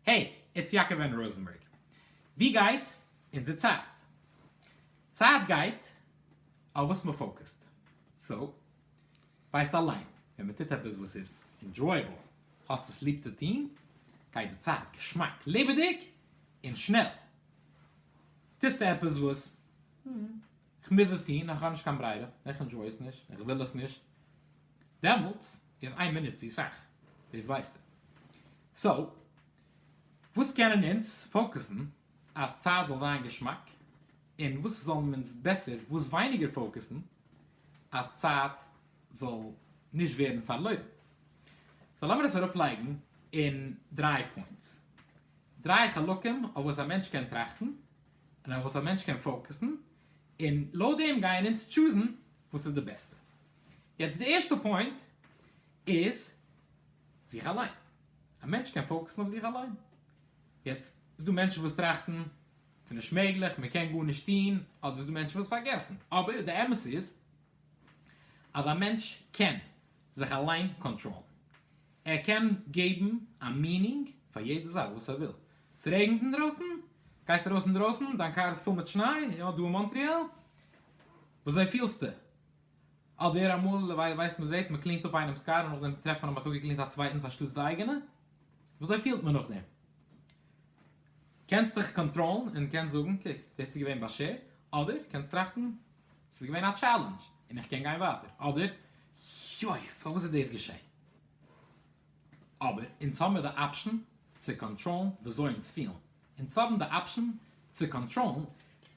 העי, איטס יעקב ענד ראזענבערג. ווי גייט אונזער צייט? צייט גייט אויף וואס מען פאוקעסט. סאו, ווייסט אליין, ווען מען טוט עפעס וואס איז ענדזשויעבל, האסט עס ליב צו טון, גייט די צייט געשמאק, לעבעדיג, און שנעל. טוסטו עפעס וואס, איך מוז עס טון, איך האב נישט קיין ברירה, איך ענדזשוי עס נישט, איך וויל עס נישט, דעמאלטס איז איין מינוט צו סאך, דאס ווייסטו. סאו, וואס קענען אונז פאוקעסן אז צייט זאל זיין געשמאק, און וואס זאלן אונז בעסער וואס ווייניגער פאוקעסן אז צייט זאל נישט ווערן פארלוירן? סאו, לאמיר עס אראפלייגן אין דריי פוינטס, דריי חלקים אויף וואס א מענטש קען טראכטן, און אויף וואס א מענטש קען פאוקעסן, און לויט דעם גייען אונז טשוזן וואס איז די בעסטע. יעצט די ערשטע פוינט איז זיך אליין, א מענטש קען פאוקעסן אויף זיך אליין, יעצט איז דא מענטשן וואס טראכטן ס'איז נישט מעגליך, מען קען גארנישט טוהן, אדער ס'דא מענטשן וואס פארגעסן, אבער די אמת איז אז א מענטש קען זיך אליין קאנטראלן, ער קען געבן א מינינג פאר יעדע זאך וואס ער וויל, ס'רעגנט אינדרויסן? גייסט ארויס אינדרויסן, דיין קאר איז פול מיט שניי, יא דא אין מאנטריאל, וויאזוי פילסטו? אדער אמאל ווייסט מען זעט מען קלינט אפ איינעם'ס קאר און נאכדעם טרעפט מען אז מען האט אפגעקלינט א צווייטנס אנשטאטס די אייגענע, וויאזוי פילט מען נאכדעם? קענסט דיך קאנטראלן און קענסט זאגן קוק דאס איז געווען באשערט, אדער קענסט טראכטן ס'איז געווען א טשעלענדזש און איך קען גיין ווייטער, אדער יוי פארוואס איז דאס געשען? אבער אונז האבן די אפשן צו קאנטראלן וויאזוי אונז פילן, אונז האבן די אפשן צו קאנטראלן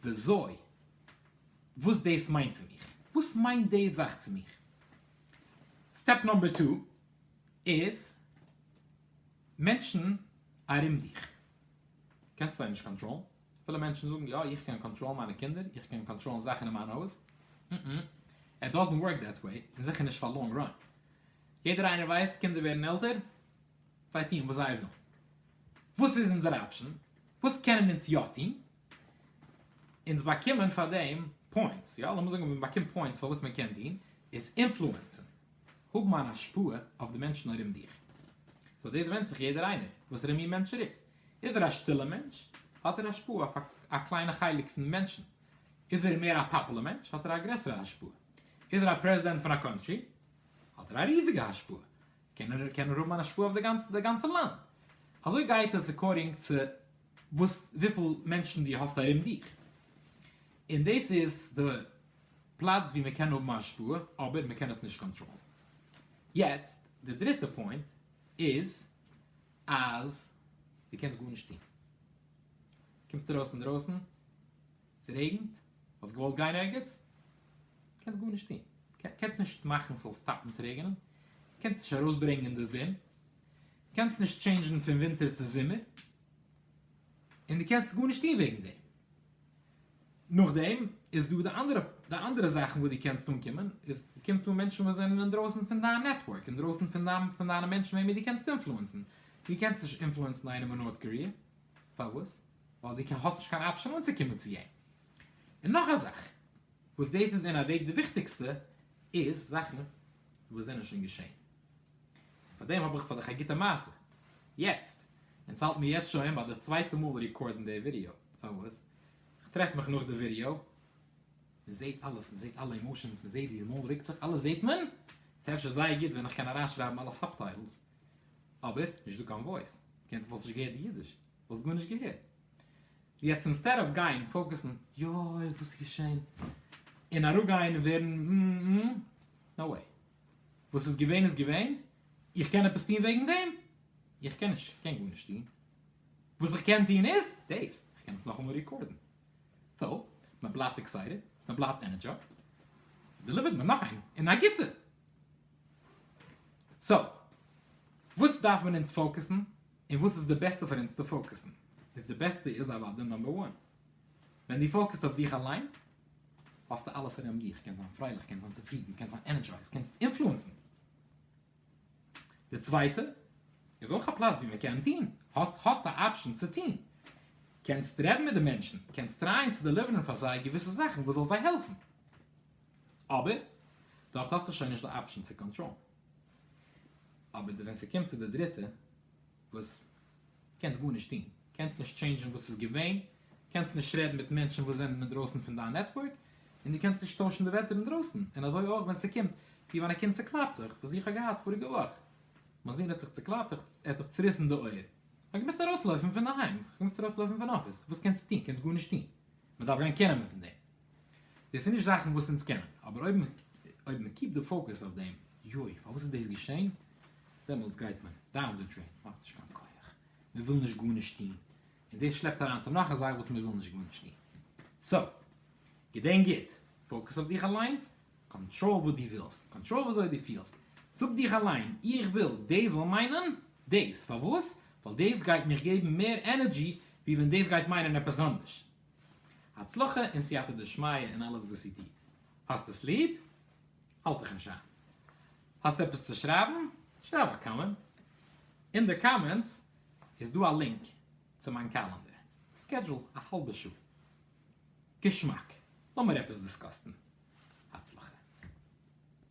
וויאזוי וואס דאס מיינט צו מיך. וואס מיינט די זאך צו מיך? סטעפ נאמבער טו איז מענטשן ארום דיך קענסט זיי נישט קאנטראלן, פילע מענטשן זאגן יא איך קען קאנטראלן מיינע קינדער, איך קען קאנטראלן זאכן אין מיין הויז, ם ם איט דאזענט ווארק דעט וועי, און זיכער נישט פאר לאנג ראן, יעדער איינער ווייסט קינדער ווערן עלטער זיי טוען וואס זיי ווילן, וואס איז אונזער אפשן? וואס קענען אונז יא טון? אונז באקומען פאר דעם פוינטס, יא לאמיר זאגן מען באקומט פוינטס פאר וואס מען קען דין איז אינפלוענסען, האבן אן השפעה אויף די מענטשן ארום דיך. סאו דאס ווענדט זיך יעדער איינער וואסערע מין מענטש ער איז. איז ער א שטילע מענטש האט ער השפעה אויף א קליינע חלק פון מענטשן. איז ער מער א פאפולער מענטש האט ער א גרעסערע השפעה. איז ער א פרעזידענט פון א קאנטרי האט ער א ריזיגע השפעה. קען ער האבן אן השפעה אויף די גאנצע לאנד. אזוי גייט עס עקארדינג צו וואס וויפיל מענטשן דו האסט ארום דיך, און דאס איז די פלאץ וואו מען קען האבן א השפעה אבער מען קען עס נישט קאנטראלן. יעצט די דריטע פוינט איז אז דו קענסט גארנישט טון. קומסט ארויס אינדרויסן, ס'רעגנט, האסט געוואלט גיין ערגעץ, קענסט גארנישט טון. קענסט נישט מאכן ס'זאל סטאפן צו רעגענען, קענסט נישט ארויסברענגען די זון. קענסט נישט טשעינדזשן פון ווינטער צו זומער, און דו קענסט גארנישט טון וועגן דעם. נאכדעם איז דא די אנדערע די אנדערע זאכן וואס דו קענסט אנקומען, איז דו קומסט אן מענטשן וואס זענען אינדרויסן פון דיין נעטווארק, אינדרויסן פון דיין פון דיינע מענטשן וועמען דו קענסט אינפלוענסן. דו קענסט נישט אינפלוענסן איינעם אין נארט קאריע, פארוואס? ווייל דו קען האסט נישט קיין אפשען אנצוקומען צו אים. און נאך א זאך, וואס דאס איז אין א וועג די וויכטיגסטע, איז זאכן וואס זענען שוין געשען. פאר דעם האב איך פאר דיך א גוטע מעשה, יעצט, און ס'האלט מיר יעצט שוין ביי די צווייטע מאל ריקארדן די ווידעא, פארוואס? כ'טרעף מיך נאך די ווידעא, מ'זעהט אלעס, מ'זעהט אלע אימאשענס, מ'זעהט ווי די מויל רוקט זיך, אלעס זעהט מען, ס'אפשר זייער גוט ווען איך קען אריינשרייבן אלע סאבטייטלס, אבער, נישט דא קיין וואויס, קענסט וואלסט נישט געהערט די אידיש, וואלסט גארנישט געהערט. יעצט אינסטעד אוו גיין פאוקעסן, יוי וואס איז געשען? און אראפגיין און ווערן, נאו וועי. וואס איז געווען איז געווען, איך קען עפעס טון וועגן דעם? איך קען נישט, איך קען גארנישט טון, וואס איך קען טון איז דאס, איך קען עס נאכאמאל ריקארדן, סאו מען בלייבט עקסייטעד, מען בלייבט ענערדזשייזד, דעליווערט מען נאך איין, און א גוטע! סאו, וואס דארף מען אונז פאוקעסן, און וואס איז די בעסטע פאר אונז צו פאוקעסן? איז די בעסטע איז אוודאי נאמבער וואן. ווען דו פאוקעסט אויף דיך אליין, האסטו אלעס ארום דיך, קענסט זיין פרייליך, קענסט זיין צופרידן, קענסט זיין ענערדזשייזד, קענסט אינפלוענסן. די צווייטע איז אויך א פלאץ ווי מען קען טון, האסט א אפשען צו טון, קענסט רעדן מיט די מענטשן, קענסט טרייען צו דעליווערן פאר זיי געוויסע זאכן וואס זאל זיי העלפן, אבער דארט האסטו שוין נישט די אפשען צו קאנטראלן. אבער ווען ס'קומט צו די דריטע, וואס קענסט גארנישט טון, קענסט נישט טשעינדזשן וואס איז געווען, קענסט נישט רעדן מיט מענטשן וואס זענען אינדרויסן פון דיין נעטווארק, און דו קענסט נישט טוישן די וועטער אינדרויסן, און אזוי אויך ווען ס'קומט צו ווען א קינד צוקלאפט זיך, וואס איך האב געהאט פאריגע וואך, מיין זון האט זיך צוקלאפט, ער האט זיך צוריסן די אויער, כ'האב געמוזט ארויסלויפן פון די היים, כ'האב געמוזט ארויסלויפן פון אפיס, וואס קענסטו טון, קענסט גארנישט טון, מ'דארף גיין קענען מ'פון דעם. דאס איז נישט זאכן וואס אונז קענען, אבער אויב אויב מען קיפט די פאוקעס אויף דעם, יוי, פארוואס איז דאס געשען? דעמאלטס גייט מען דאון די דרעין, מען האט נישט קיין כח, מען וויל נישט גארנישט טון, און דאס שלעפט אריין צו נאך א זאך וואס מען וויל נישט גארנישט טון. סא, געדענק גוט, פאוקעס אויף דיך אליין, קאנטראל וואס דו ווילסט, קאנטראל ווי אזוי דו פילסט, זאג דיך אליין, איך וויל דאס זאל מיינען דאס, פארוואס? ווייל דאס גייט מיך געבן מער ענערדזשי ווי ווען דאס גייט מיינען עפעס אנדערש. הצלחה און סייעתא דשמיא אין אלעס וואס איר טוט. האסט עס ליב? האלט דיך נישט איין. האסט עפעס צו שרייבן? שרייב א קאמענט. אין די קאמענטס איז דא א לינק צו מיין קאלענדער. סקעדזשול א האלבע שעה. געשמאק. לאמיר עפעס דיסקאסטן. הצלחה.